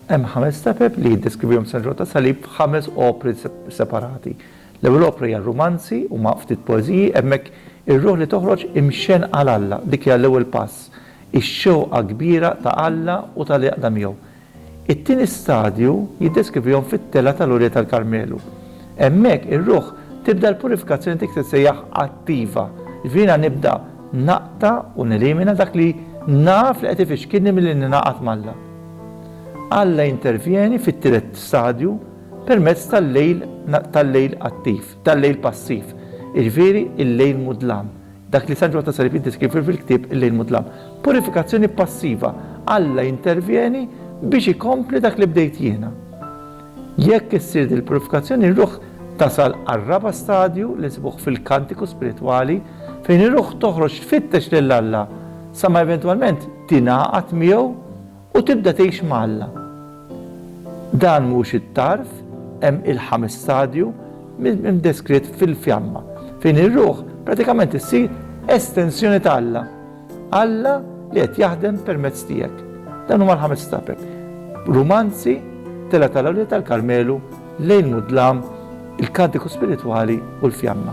Hemm ħames tapeb li jiddeskrivihom San Ġwann tas-Salib f'ħames opri separati. L-ewwel opra hija rumanzi u ma' ftit poeżiji, hemmhekk ir-ruħ li toħroġ imxenn għal Alla, dik hija l-ewwel pass, ix-xewqa kbira ta' Alla u tal-għaqda miegħu. It-tieni stadju jiddeskrivihom fit-telgħa tal-għolja tal-Karmelu. Hemmhekk ir-ruħ tibda l-purifikazzjoni dik li tissejjaħ attiva, jiġifieri jiena nibda naqta' u nelimina dak li naf li qed ifixkilni milli ningħaqad m'Alla. Alla jintervjeni fit-tielet stadju permezz tal-lejl tal-lejl attiv, tal-lejl passiv, jiġifieri l-lejl mudlam, Dak li San Ġwann ta' Salib jiddeskrivi fil-ktieb Il-Lejl Mudlam, purifikazzjoni passiva, Alla jintervjeni biex ikompli dak li bdejt jiena. Jekk issir din il-purifikazzjoni r-ruħ tasal għar-raba' stadju li nsibuh fil-kantiku spiritwali fejn ir-ruħ toħroġ tfittex lil Alla sa ma eventwalment tingħaqad miegħu U tibda tgħix ma' Alla. Dan mhux it-tarf, hemm il-ħames stadju, imdeskritt fil-fjamma, fejn ir-ruħ pratikament issir estensjoni ta' Alla. Alla li qed jaħdem permezz tiegħek. Dawn huma l-ħames stapep. Rumanzi, Telgħa tal-Awliad tal-Karmelu, Lejl Mudlam, il-Kantiku Spiritwali u l-Fjamma.